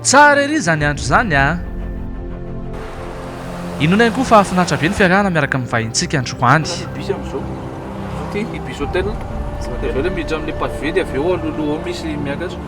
Tsara ery izany andro izany a! Inoana ihany koa fa hahafinaritra be ny fiarahana miaraka amin'ny vahintsika androany. Ity bus hotel. Dia avy eo ilay miditra amin'ilay pavé dia avy eo aloha aloha ao misy miakatra.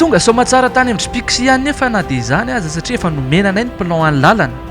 Tonga soamantsara tany amin'ny Jpix ihany nefa na dia izany aza satria efa nomena anay ny plan-n'ny lalana.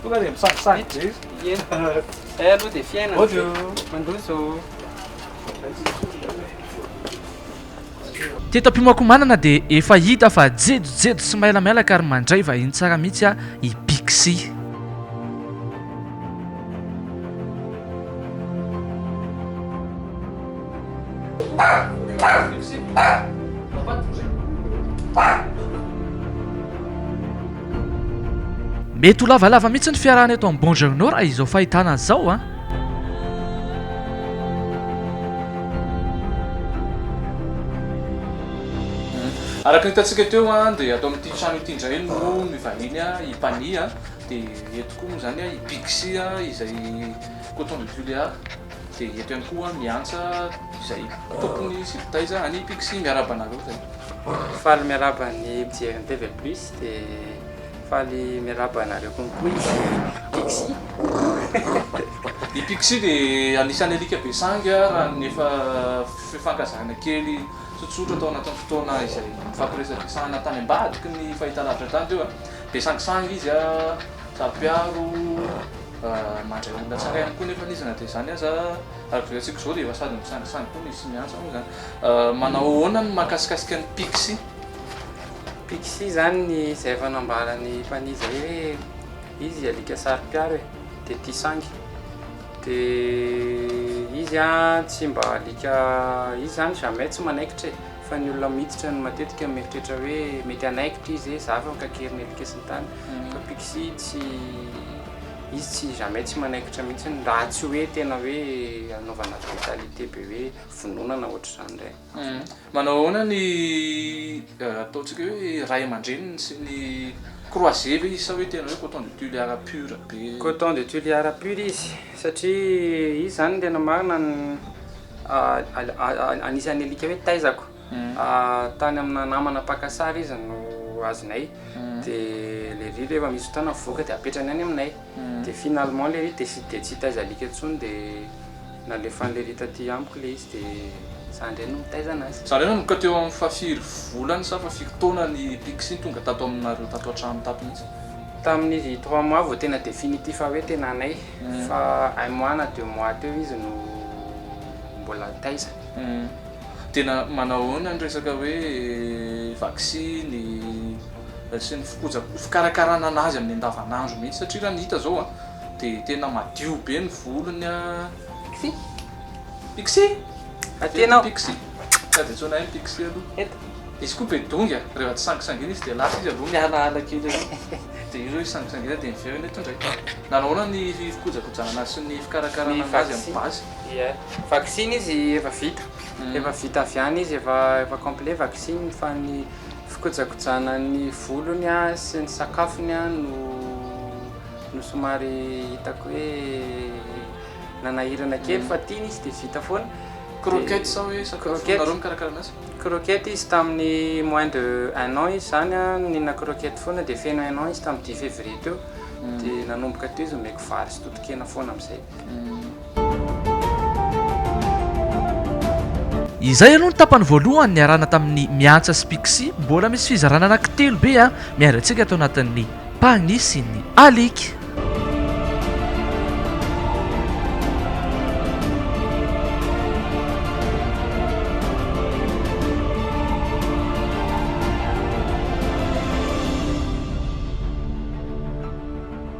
Tonga dia misakisaky be izy. Ie. Zay aloha dia fiainana. Bonjour. Mandroso. Teto Ampimakomanana dia efa hita fa jejojejo sy mailamailaka ary mandray vahiny tsara mihitsy i Pixie. Mety ho lavalava mihitsy ny fiarahana eto amin'ny Bonjournaux raha izao fahitana azy izao an! Araka ny hitantsika teo dia ato amin'ity trano ity indray no mivahiny i Pani dia eto koa moa izany i Pixy izay coton de Tuléar. Dia eto ihany koa miantsa izay tompony sy mpitaiza an'i Pixy miarahaba anareo zay. Faly miarahaba ny mpijery ny TV plus dia faly miarahaba anareo koa koa i Pixy. I Pixy dia anisan'ny alika be sangy raha ny efa fifankazahana kely tsotsotra tao anatin'ny fotoana izay nifampiresadresahana tany ambadiky ny fahitalavitra tany teo. Be sangisangy izy, saro-piaro, Fa mandray olona tsara ihany koa nefa izy na dia izany aza. Araka izao hitantsika izao dia efa sady misangisangy koa ny tsy miantsa moa izany. Manao ahoana ny mahakasikasika ny pixie? Pixie izany ny izay efa nambaran'i Pani izay hoe izy alika saro-piaro e, dia tia sangy. Dia izy tsy mba alika, izy izany jamais tsy manaikitra e, fa ny olona miditra no matetika mieritreritra hoe mety hanaikitra izy e, za efa mikakeriny alika sy ny tariny. Papixi tsy, izy tsy jamais tsy manaikitra mihitsiny raha tsy hoe tena hoe anaovana brutalité be hoe vonoana na ohatr'izany indray. Manao ahoana ny ataontsika hoe ray aman-dreniny sy ny croisé ve izy sa hoe tena hoe coton de Tuléar pur be? Coton de Tuléar pur izy satria izy izany tena marina anisan'ny alika hoe taizako. Tany amina namana mpaka sary izy no azonay dia le riz rehefa misy fotoana mivoaka dia apetrany any aminay dia finalement le riz dia tsy hitaiza alika intsony dia nalefan'le riz taty amiko le izy dia za indray no mitaiza anazy. Za indray nanomboka teo amin'ny fahafiry volana sa fahafito taona ny picsy tonga tato aminareo tato an-trano tato mihitsy? Tamin'ny riz trois mois vao tena définitif hoe tena anay fa un mois na deux mois teo izy no mbola taiza. Tena manao ahoana ny resaka hoe vaksiny sy ny fikoja- fikarakarana an'azy amin'ny andavanandro mihitsy satria raha ny hita izao a, dia tena madio be ny volony a, pixi, pixi, Aty ianao. pixi, tsy azo iantsoana ahy pixi aloha, Eto. izy koa be dongy a, rehefa tsy sangisangiana izy dia lasa izy aloha mihalahala kely aloha, dia io izy sangisangiana dia miverina eto indray, nanao ahoana ny fikojakojana an'azy sy ny fikarakarana an'azy amin'ny base. Ie, vaksiny izy efa vita, efa vita avy any izy, efa efa complet vaksiny fa ny fikojakojana ny volony a sy ny sakafony a no no somary hitako hoe nanahirana kely fa tiany izy de vita foana. Croquette sa hoe sakafo Croquette. nareo mikarakara anazy? Croquette izy tamin'ny moins de un an izy zany a nihinana croquette foana de feno un an izy tamin'ny dix février teo de nanomboka teo izy omeko vary sy totokena foana am'zay. Izay aloha ny tapany voalohany niarahana tamin'ny Miantsa sy Pixy, mbola misy fizarana anaky telo be a! Miandry antsika ato anatin'ny Pagny sy ny Alika.